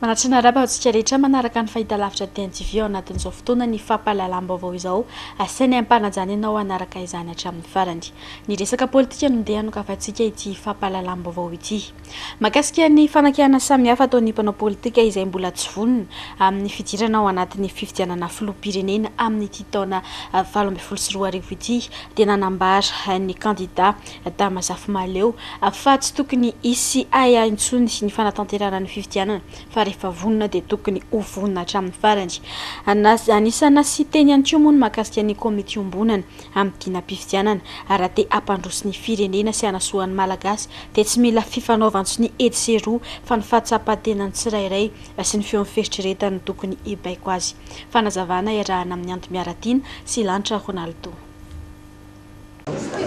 Manatri ny arahaba antsika rehetra manaraka ny fahitalavitra DNTV ao anatin'izao fotoana ny fampahalalam-baovao izao asainay ampanajana ianao hanaraka izany hatramin'ny farany. Ny resaka politika no ndeha anokavantsika ity fampahalalam-baovao ity. Mahakasika ny fanakihana samihafa ataon'ny mpanao politika izay mbola tsy vonona amin'ny fidirana ao anatin'ny fifidianana filoham-pirenena amin'ity taona valo ambin'ny folo sy roa arivo ity dia nanambara ny kandida Adama Zafimahaleo, fa tsy tokony hisy ahiahy intsony ny fanatanterahana ny fifidianana fa rehefa vonona dia tokony ho vonona hatramin'ny farany. Anisan'ny nasia teny ihany koa moa ny mahakasika ny komity iombonana amin'ny dinam-pifidianana ary raha te hampandroso ny firenena sy hanasoa ny Malagasy dia tsy mila fifanaovan-tsonia etsy sy eroa fa ny fahatsapan-tenan'ny tsirairay sy ny feon'ny fieritreretany no tokony hibaiko azy. Fanazavana iarahana amin'ny Andry Miaratiana sy Lanitra Ronaldo.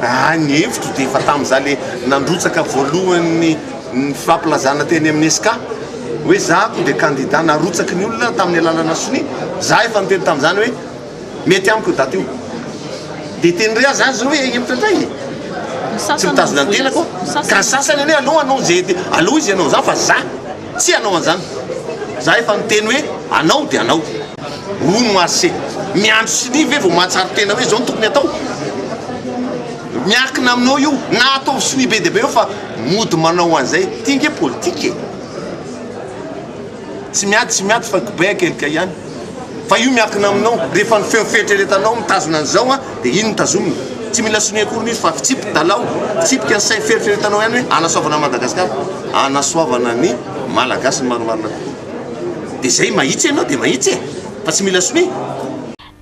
Raha ny hevitro dia efa tamin'izaho ilay nandrotsaka voalohany ny fampilazana teny amin'ny Esca hoe za koa dia kandida narotsaky ny olona tamin'ny alalana sonia. Za efa niteny tamin'izany hoe mety amiko io daty io. Dia teny re aza azy hoe hevitra indray e! Tsy mitazona ny tenako aho. Ka ny sasany anie aleo hanao izay te, aleo izy hanao an'izany fa za tsy hanao an'izany. Za efa niteny hoe anao dia anao. Hono Marse, miandry sonia ve vao mahatsara tena hoe izao no tokony atao? Miankina aminao io na ataovy sonia be dia be eo fa mody manao an'izay ity nge politika e! Tsy miady tsy miady fa kibay akelika ihany. Fa io miankina aminao, rehefa ny feo fieritreretanao mitazona an'izao an, dia iny no tazomina. Tsy mila sonia akory ny izy fa fitsipy dalao, fitsipika ny sainy fieritreretanao ihany hoe anasoavana an'i Madagasikara, anasoavana ny Malagasy ny marimarina kokoa. Dia zay, mahitsy ianao dia mahitsy e! Fa tsy mila sonia.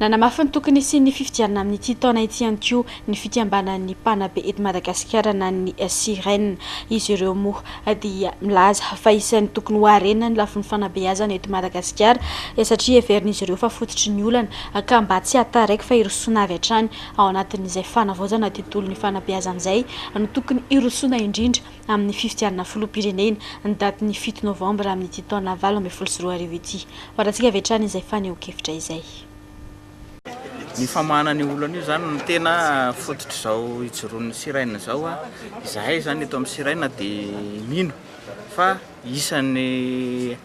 Nanamafy ny tokony hisian'ny fifidianana amin'ity taona ity ihany koa ny fikambanan'ny mpanabe eto Madagasikara na ny Syren. Izy ireo moa dia milaza fa isan'ny tokony ho harena ny lafiny fanabeazana eto Madagasikara satria heverin'izy ireo fa fototry ny olana ka mba tsy hahataraiky fa hirosoana avy hatrany ao anatin'izay fanavaozana tontolon'ny fanabeazana izay no tokony hirosoana indrindra amin'ny fifidianana filoham-pirenena, ny datin'ny fito novambra amin'ity taona valo ambin'ny folo sy roa arivo ity. Farantsika avy hatrany izay fanehoan-kevitra izay. Ny famahana an'io olana io izany no tena fototr'izao ijoroan'ny Sirena izao. Izahay izany eto amin'ny Sirena dia mino fa isan'ny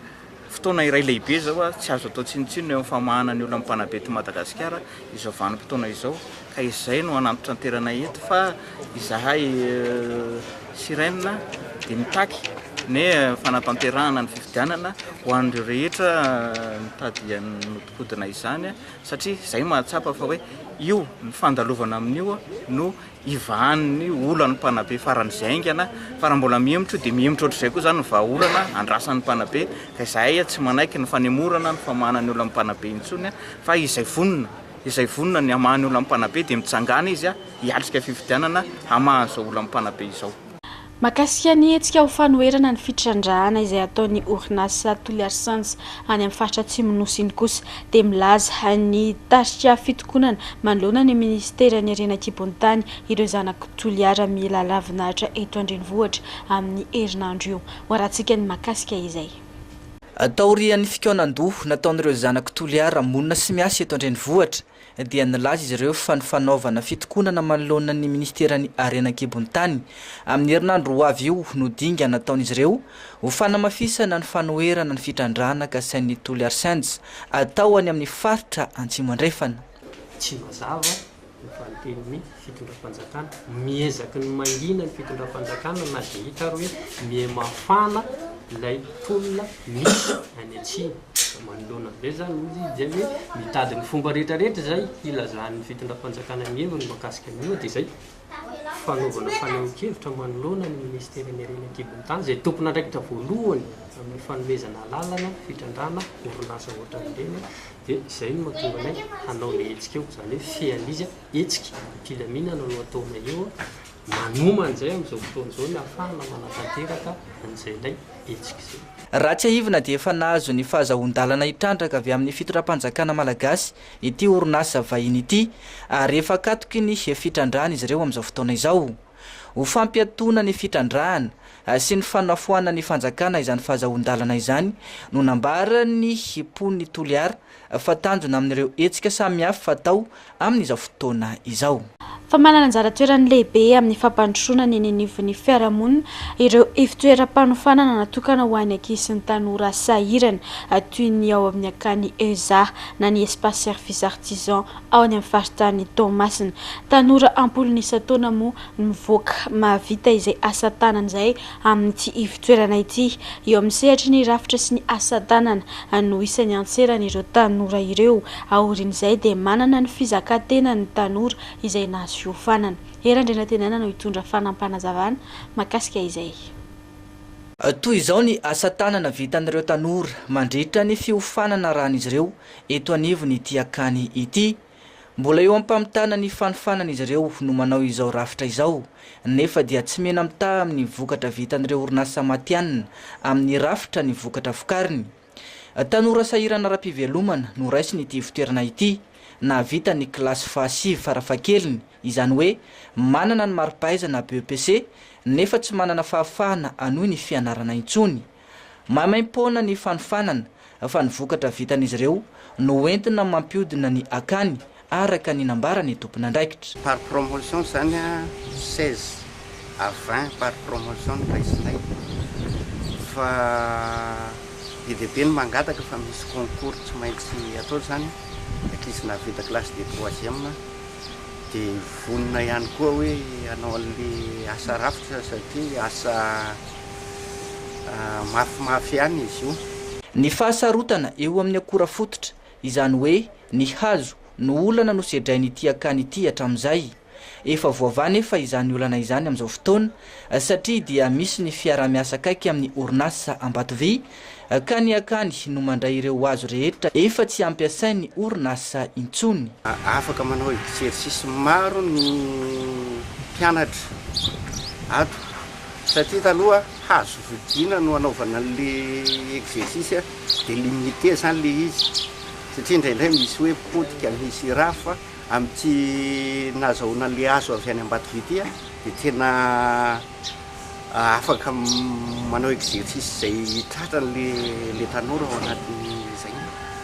Fotoana iray lehibe izao ary tsy azo atao tsinontsinona eo amin'ny famahana ny olan'ny mpanabe eto Madagasikara izao vanim-potoana izao ka izay no hanantitranterana eto fa izahay Sirene dia mitaky ny fanatanterahana ny fifidianana ho an'ireo rehetra mitady hanodinkodina izany satria izay mahatsapa fa hoe io ny fandalovana amin'io no ivahan'ny olan'ny mpanabe faran'izay haingana fa raha mbola mihemotra io dia mihemotra ohatr'izay koa izany ny vahaolana andrasan'ny mpanabe ka izahay tsy manaiky ny fanemorana ny famahana ny olan'ny mpanabe intsony fa izay vonona izay vonona ny hamaha ny olan'ny mpanabe dia mitsangàna izy hiatrika fifidianana hamaha izao olan'ny mpanabe izao. Mahakasika ny hetsika ho fanoherana ny fitrandrahana izay ataon'ny orinasa Toliary Sens any amin'ny faritra Atsimon'ny Nosy iny kosa dia milaza ny tarika fitokonana manoloana ny minisiteran'ny harena an-kibon'ny tany ireo zanak'i Toliara mila lavin'Atra eto an-drenivohitra amin'ny herinandro io. Hoarahantsika ny mahakasika izay. Taorian'ny fikaonan-doha nataon'ireo zanak'i Toliara monina sy miasa eto an-drenivohitra dia nilaza izy ireo fa ny fanaovana fitokonana manoloana ny minisiteran'ny Harena an-kibon'ny tany amin'ny herinandro ho avy io no dingana ataon'izy ireo ho fanamafisana ny fanoherana ny fitrandrahana kasain'ny Toliarsens atao any amin'ny faritra Antsimo Andrefana. Tsy mazava ny valin-tenin'i. fitondram-panjakana, miezaky ny mangina ny fitondram-panjakana na dia hita ary hoe mihamafana ilay tolona misy any atsimo, manoloana an'izay izany hoy izy dia hoe mitady ny fomba rehetra rehetra izay hilazan'ny fitondram-panjakana ny heviny mahakasika an'io dia izay fanaovana fanehoan-kevitra manoloana ny ministeran'ny harena an-kibon'ny tany izay tompon'andraikitra voalohany amin'ny fanomezana alalana fitrandrahana orinasa ohatran'ireny dia izay no mahatonga anay hanao ilay hetsika eo izany hoe fean'izy hetsika am-pilaminana no ataonay eo, manomana izay amin'izao fotoana izao ny hahafahana manatanteraka an'izay ilay hetsika izay. Raha tsiahivina dia efa nahazo ny fahazahoan-dalana hitrandraka avy amin'ny fitondram-panjakana malagasy ity orinasa vahiny ity ary efa akatoky ny fitrandrahana izy ireo amin'izao fotoana izao. Ho fampiatoana ny fitrandrahana sy ny fanafoanan'ny fanjakana izany fahazahoan-dalana izany no nambaran'ny mpon'i Toliara fa tanjona amin'ireo hetsika samihafa atao amin'izao fotoana izao. Fa manana anjara toerany lehibe amin'ny fampandrosoana ny eny anivon'ny fiarahamonina ireo ivotoeram-panofanana natokana ho an'ny ankizy sy ny tanora sahirana, toy ny ao amin'ny Akany Eza na ny Espace Service Artisan ao any amin'ny faritanin'i Toamasina. Tanora am-polony isan-taona moa mivoaka mahavita izay asa tanany izay amin'ity ivon-toerana ity. Eo amin'ny sehatry ny rafitra sy ny asa tanana no isan'ny antseran'ireo tanora ireo. Aorian'izay dia manana ny fizakan-tenany ny tanora izay nahazo fiofanana. Hery Andrianantenaina no hitondra fanampanazavan makasika izay. Toy izao ny asa tanana vitan'ireo tanora mandritra ny fiofanana arahan'izy ireo eto anivon'ity akany ity. Mbola eo am-pamitana ny fanofanana izy ireo no manao izao rafitra izao, nefa dia tsy mena-mitaha amin'ny vokatra vitan'ireo orinasa matihanina amin'ny rafitra ny vokatra vokariny. Tanora sahirana ara-pivelomana no raisiny ity ivotoerana ity, nahavita ny kilasy fahasivy farafahakeliny, izany hoe manana ny mari-pahaizana BEPC, nefa tsy manana fahafahana hanohy ny fianarana intsony. Maimaim-poana ny fanofanana fa ny vokatra vitan'izy ireo no hoentina mampiodina ny akany araka ny nambaran'ny tompon'andraikitra. Par promotion izany an, seize à vingt par promotion no raisinay fa be dia be ny mangataka fa misy concours tsy maintsy atao izany ankizy na vita classe de troisième dia vonona ihany koa hoe hanao an'ilay asa rafitra satria asa mafimafy ihany izy io. Ny fahasarotana eo amin'ny akora fototra, izany hoe ny hazo, no olana nosedrain'ity akany ity hatramin'izay. Efa voavaha anefa izany olana izany amin'izao fotoana, satria dia misy ny fiaraha-miasa akaiky amin'ny orinasa Ambatovy Akany hakany no mandray ireo hazo rehetra efa tsy ampiasain'ny orinasa intsony. Afaka manao exercice maro ny mpianatra ato satria taloha hazo vidina no anaovana an'le exercice de limite zany le izy satria indraindray misy hoe potika misy raha fa amin'ity nazahoana an'le hazo avy any Ambatovy ity dia tena afaka manao exercice izay tratrany le le tanora ao anatin'izay.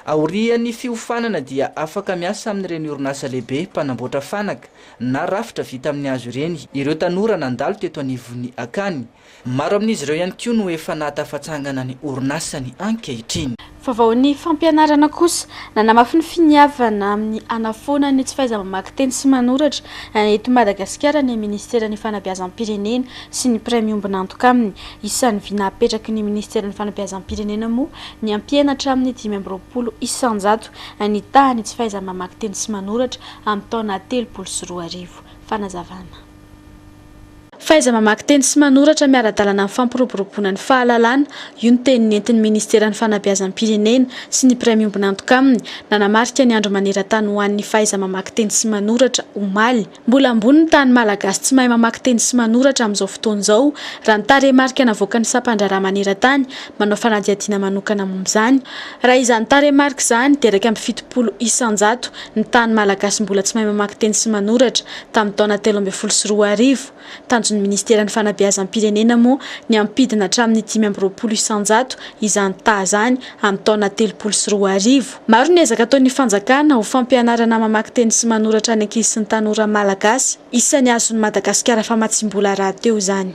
Aorian'ny fiofanana dia afaka miasa amin'ireny orinasa lehibe mpanamboatra fanaka na rafitra vita amin'ny hazo ireny ireo tanora nandalo teto anivon'ny akany. Maro amin'izy ireo ihany koa no efa nahatafatsangana ny orinasany ankehitriny. Fa vao ny fampianarana kosa, nanamafy ny finiavana amin'ny hanafoana ny tsy fahaiza-mamaky teny sy manoratra eto Madagasikara ny Minisiteran'ny Fanabeazam-pirenena sy ny mpiray miombon'antoka aminy. Isan'ny vina hapetraky ny Minisiteran'ny Fanabeazam-pirenena moa ny hampiena hatramin'ny dimy amby roapolo isanjato ny tahan'ny tsy fahaiza-mamaky teny sy manoratra amin'ny taona telopolo sy roa arivo. Fanazavana. Fahaiza-mamaky teny sy manoratra miara-dalana amin'ny fampiroboroboana ny fahalalana, io ny teny nentin'ny Ministeran'ny Fanabeazam-pirenena sy ny mpiray miombon'antoka aminy nanamarika ny Andro maneran-tany ho an'ny fahaiza-mamaky teny sy manoratra, omaly. Mbola ambony ny tahan'ny Malagasy tsy mahay mamaky teny sy manoratra amin'izao fotoana izao, raha ny tarehimarika navoakan'ny Sampan-draharaha maneran-tany manao fanadihadiana manokana momba izany. Raha izany tarehimarika izany, dia iraika amby fitopolo isan-jato ny tahan'ny Malagasy mbola tsy mahay mamaky teny sy manoratra, Tamin'ny taona telo ambin'ny folo sy roa arivo, tanjon'ny Ministeran'ny Fanabeazam-pirenena moa ny hampidina hatramin'ny dimy amby roapolo isan-jato izany taha izany amin'ny taona telopolo sy roa arivo. Maro ny ezaka ataon'ny fanjakana ho fampianarana mamaky teny sy manoratra ny ankizy sy ny tanora malagasy. Isan'ny azon'i Madagasikara famatsiam-bola rahateo izany.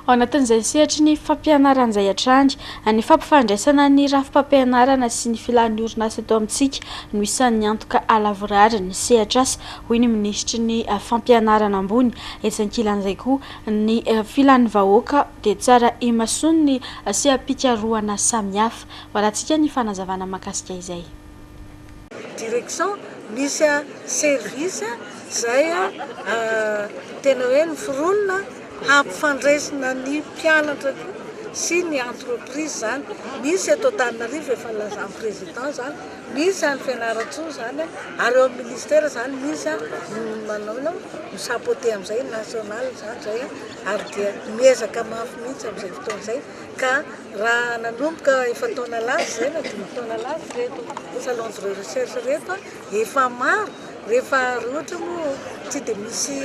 Ao anatin'izay sehatry ny fampianarana izay hatrany, ny fampifandraisana ny rafi-pampianarana sy ny filan'ny orinasa eto amintsika no isan'ny antoka halavorary ny sehatr'asa, hoy ny minisitry ny Fampianarana ambony. Etsy ankilan'izay koa, ny filan'ny vahoaka dia tsara imasoan'ny seha-pikarohana samihafa. Valantsika ny fanazavana mahakasika izay. direction misy service izay tena hoe miforonina hampifandraisina ny mpianatra koa sy ny entreprise izany, misy eto Antananarivo efa nilazan'ny président izany, misy any Fianarantsoa izany ary eo amin'ny ministère izany misy manao inona moa mi chapeauter an'izay national izany izay ary dia miezaka mafy mihintsy amin'izay fotoana izay. Ka raha nanomboka efa-taona lasa izay na dimy taona lasa ireto salons de recherche ireto efa maro rehefa raha ohatra moa tsy dia misy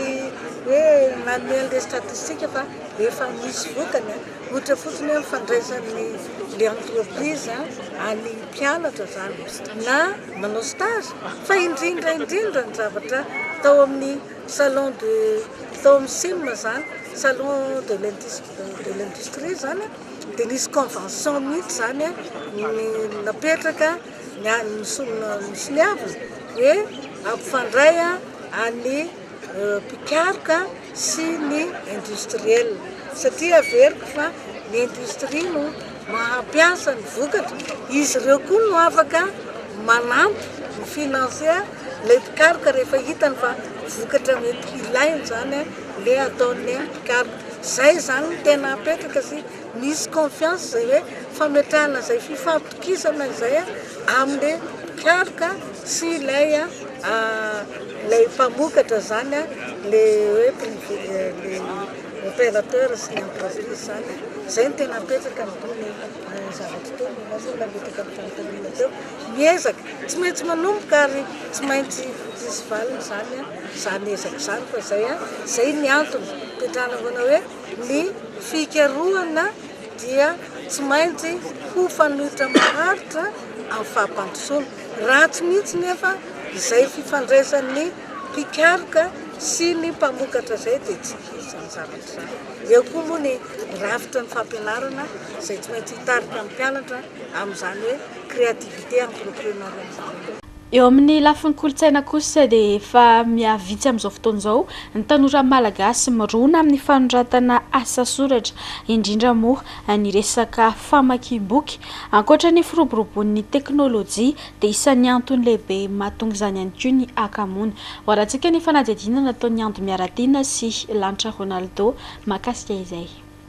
hoe nanome an'ilay statistique fa efa misy vokany ohatra fotsiny hoe ny fandraisan'ny le entreprise any mpianatra izany na manao stage fa indrindra indrindra ny zavatra tao amin'ny salon de tao amin'ny sim izany salon de lentisme de l'industrie zany dia nisy convention mihitsy zany napetraka nisoniavina hoe ampifandray an'ny mpikaroka sy ny industriel satria averiko fa ny industrie no mahampiasa ny vokatra izy ireo koa no afaka manampy ny financier Ilay mpikaroka rehefa hitany fa vokatra mety hilainy izany ilay ataon'ny mpikaroka. Izay izany no tena apetraka sy misy confiance izay hoe fametrahana izay fifampitokisana izay amin'ilay mpikaroka sy ilay ilay mpamokatra izany ilay hoe privé ilay opérateur sy ny entreprise izany. Izay no tena apetraka ny zavatra teo, ny nahatonga ny fanontaniana teo. Ny ezaka tsy maintsy manomboka ary tsy maintsy hisy valiny izany izany ezaka izany fa izay an! izay ny antony hipetrahana foana hoe ny fikarohana dia tsy maintsy ho fanoitra maharitra amin'ny fampandrosoana. Ratsy mihitsy nefa izay fifandraisan'ny mpikaroka sy ny mpamokatra izay dia tsy hisy izany zavatra izany. Eo koa moa ny rafitra ny fampianarana izay tsy maintsy hitarika ny mpianatra amin'izany hoe créativité entrepreneuriale izany. Eo amin'ny lafiny kolontsaina kosa dia efa mihavitsy amin'izao fotoana izao ny tanora malagasy mirona amin'ny fanoratana asa soratra, indrindra moa ny resaka famakiam-boky. Ankoatra ny firoboroboan'ny teknolojia dia isan'ny antony lehibe mahatonga izany ihany koa ny hakamoana. Hoarantsika ny fanadihadiana nataon'i Ando Miaratiana sy Lanitra Ronaldo mahakasika izay.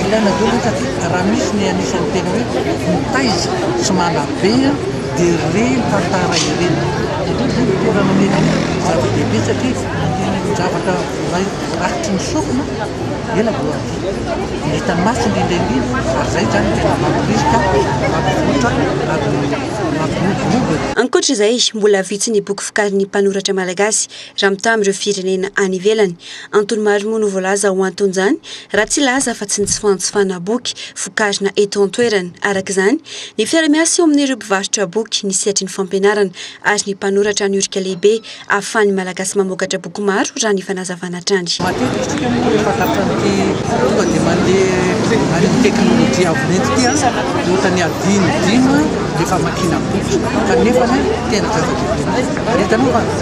Ilaina daholo zany satria raha misy ny anisan'ny tena hoe mitaiza sy manabe dia ireny tantara ireny. Aleo zany ny toerana mety hoe zava-dehibe satria ny zavatra voaray rakotry ny sofina ela vao adino. Ny hitan'ny maso indrindra indrindra ary izay zany tena mamporisika hampivontra ary mampiroborobo e. Ankoatra izay, mbola vitsy ny boky vokarin'ny mpanoratra malagasy raha mitaha amin'ireo firenena any ivelany. Antony maro moa no voalaza ho anton'izany, raha tsy hilaza afa tsy ny tsy fanjifana boky vokarina eto an-toerana. Araka izany, ny fiara-miasa eo amin'ireo mpivarotra boky, ny sehatry ny fampianarana ary ny mpanoratra no irika lehibe ahafahan'ny Malagasy mamokatra boky maro, raha ny fanazavana hatrany. Matetika isika moa rehefa tapitran'ity tonga dia mandeha any amin'ny teknolojia avo lenta ity ohatrany adino dimy rehefa hamakiana boky, kanefa tena zava-dehibe mihitsy. Ary hitanao fa.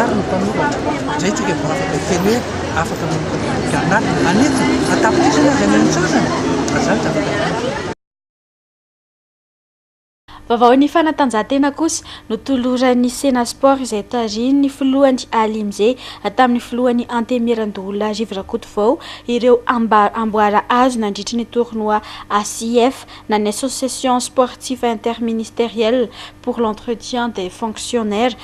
Ary ny mpanoratra, izay tsika vao afaka hiteny hoe afaka manoratra na manetsa na an-tapitrisany aza ny antsasany, fa izany tsy afaka atao. Vaovaon'ny fanatanjahantena kosa, notoloran'ny Sena Sport izay tarihin'ny filohany Aly Mzee tamin'ny filohan'ny Antenimierandoholona Rivo Rakotovao ireo amboara azo nandritry ny tournoi ACIF na ny Association Sportif Interministériel pour l'entretien des fonctionnaires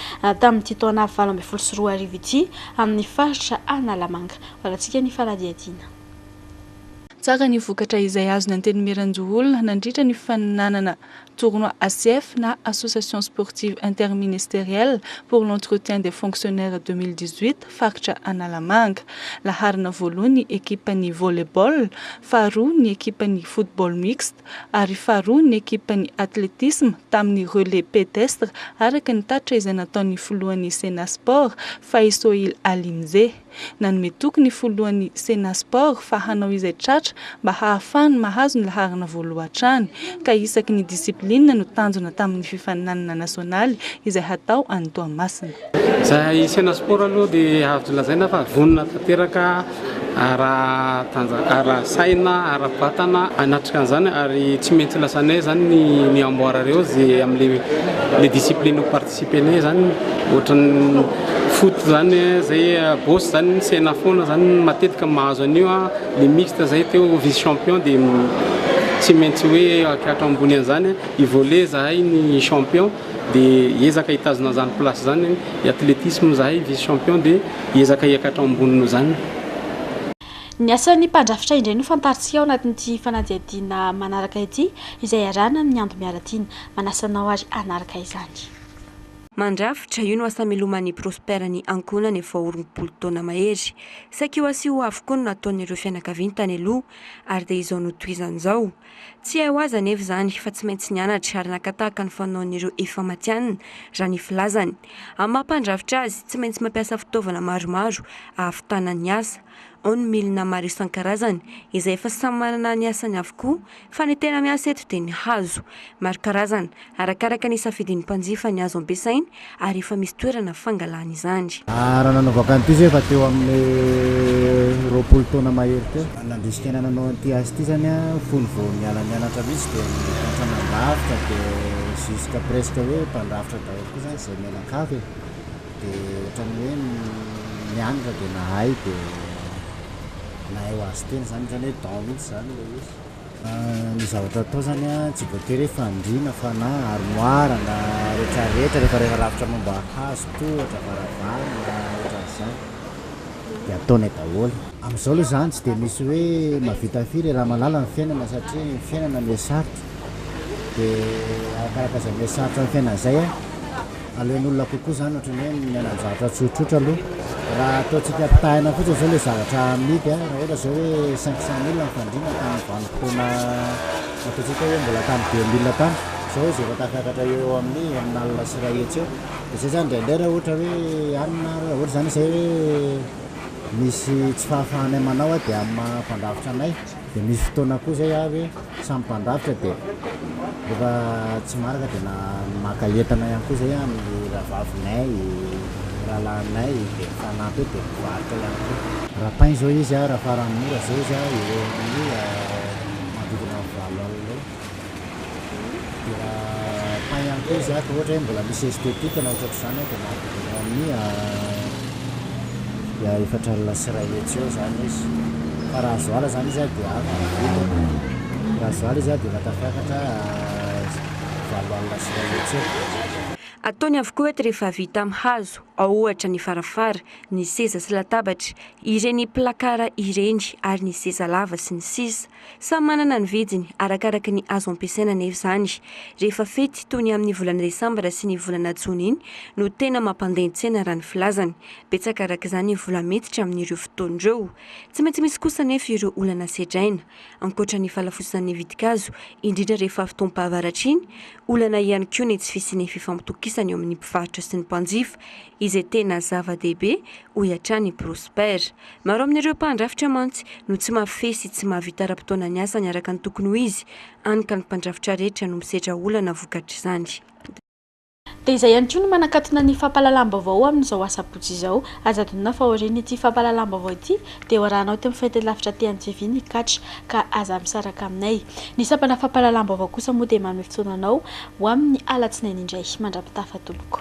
tamin'ity taona valo ambin'ny folo sy roa arivo ity amin'ny faritra Analamanga. Valantsika ny fanadihadiana. Tsara ny vokatra izay azon'ny Antenimierandoholona nandritra ny faninanana tournoi ASIF na Association Sportive Interministérielle pour l'Entretien des Fonctionnaires deux mille dix-huit faritra Analamanga. Laharana voaloha ny ekipan'ny Volley-ball, faharoa ny ekipan'ny Football Mixte, Egypta ary faharoa ny ekipan'ny atletisma tamin'ny relais pedestre araka ny tatitra izay nataon'ny filohan'ny Sena Sport, Faisohil Alimzeh. Nanome toky ny filohan'ny Sena Sport fa hanao izay tratra mba hahafahany mahazo ny laharana voaloha hatrany ka isaky ny discipline no tanjona tamin'ny fifaninanana nasionaly izay hatao any Toamasina. Izay hisena sport aloha dia azo lazaina fa vonona tanteraka ara saina ara vatana hanatrika an'izany ary tsy maintsy lazainay izany ny amboara ireo ze amle discipline ho participer nay izany ohatran'ny foot izany zay boss izany misena foana izany matetika mahazo an'io an le mixte izay teo vice champion dia tsy maintsy hoe hakiatra ambony an'izany i volley zahay ny champion dia hiezaka hitazona an'izany place izany ny athlétisme, izahay vice champion dia hiezaka hiakatra ao ambony noho izany. Ny asan'ny mpandrafitra indray no fantarintsika ao anatin'ity fanadihadiana manaraka ity izay iarahana amin'ny Ando Miaratiana. Manasa anao ary hanaraka izany. Mandrafitra, io no asa miloman'i Prosper ny ankohonany vao rompolo taona mahery. Saiky io asa io avokoa no nataon'ireo fianakaviany tany aloha ary dia izao notohizany izao. Tsy hay ho azy anefa izany fa tsy maintsy nianatra ary naka tahaka ny fanaon'ireo efa matihanina, raha ny filazany. Amin'ny maha mpandrafitra azy, tsy maintsy mampiasa fitaovana maromaro ahavitana ny asa. Ao ny milina maro isan-karazany izay efa samy manana ny asany avokoa fa ny tena miasa eto dia ny hazo. Maro karazana Arakaraka ny safidin'ny mpanjifa ny azo ampiasainy ary efa misy toerana fangalana izany. Raha nanaovako an'ity izay efa teo amin'ny roapolo taona mahery teo. Nandrisika ny hananao an'ity asa ity izany aho fony vao niala nianatra mihitsy dia niantra nandrafitra dia jusque presque hoe mpandrafitra daholo koa izany izay mianakavy e! dia ohatran'ny hoe nianatra dia nahay dia nahay ho azy tena izany, ohatran'ny hoe don mihitsy izany ilay izy. Ny zavatra atao zany an, tsy voatery hoe fandriana fa na armoire na retraretra rehefa rehefa rafitra momba hazo tohatra, varavarana otran'izany de ataonay daholo. Amizao aloha zany tsy de misy hoe mahavita firy e, raha malala ny fiainana satria ny fiainana miha sarotra de arakaraka izay miha sarotra ny fiainana izay an. Aleon'olona kokoa izany ohatran'ny hoe miaina amin'ny zavatra tsotsotra aloha. Raha ataontsika ampitahaina fotsiny izao ilay zavatra amidy, raha ohatra izao hoe cinq cent mille ny fandriana tamin'ny vanim-potoana ataontsika hoe mbola tamin'ny deux mille tany, izao izy efa tafakatra eo ho amin'ny enina alina sy iray hetsy eo. Dia izay izany indraindray raha ohatra hoe any na raha ohatra izany izay hoe misy tsy fahafahanay manao dia amin'ny maha mpandrafitra anay. Dia nisy fotoana koa izay aho hoe samy mpandrafitra dia rehefa tsy maraka dia na maka entana ihany koa izay aho amin'ny rahavavinay, rahalahinay dia mifanampy eo dia mivarotra ihany koa. Rapain izao izy raha faran'ny mora izao izy eo amin'ny manodidina valo alina eo. Dia pain ihany koa izy ato ohatra hoe mbola misy esthétique na ohatratr'izany dia mahavidy eo amin'ny dia efatra alina sy iray hetsy eo izany izy fa raha azoala izany izy dia avy ny vidiny raha azoala izy dia efa tafiakatra valo alina sy iray hetsy eo. Ataony avokoa eto rehefa vita amin'ny hazo, ao ohatra ny farafara, ny seza sy latabatra, ireny placard ireny ary ny seza lava sy ny sisa Samy manana ny vidiny, arakaraka ny azo ampiasaina anefa izany. Rehefa fety, toy ny amin'ny volana desambra sy ny volana jona iny, no tena mampandeha ny tsena raha ny filazany. Betsaka araka izany ny vola miditra amin'ireo fotoana ireo. Tsy maintsy misy kosa anefa ireo olana sedraina. Ankoatra ny fahalafosan'ny vidin-kazo, indrindra rehefa fotoam-pahavaratra iny, olana ihany koa ny tsy fisian'ny fifampitokisana eo amin'ny mpivarotra sy ny mpanjifa, izay tena zava-dehibe, hoy hatrany i Prosper. Maro amin'ireo mpandrafitra mantsy no tsy mahafehy sy tsy mahavita ara-potoana ny asany araka ny tokony ho izy, hany ka ny mpandrafitra rehetra no misedra olana vokatr'izany. Dia izay ihany koa no manakatona ny fampahalalam-baovao amin'izao asabotsy izao. Aza adinona fa aorian'ity fampahalalam-baovao ity Dia ho arahanao eto amin'ny fahitalavitra aty an-GV ny catch ka aza misaraka aminay. Ny sampana fampahalalam-baovao kosa moa dia manome fotoana anao ho amin'ny alatsinainy indray mandra-pitafa tompoko.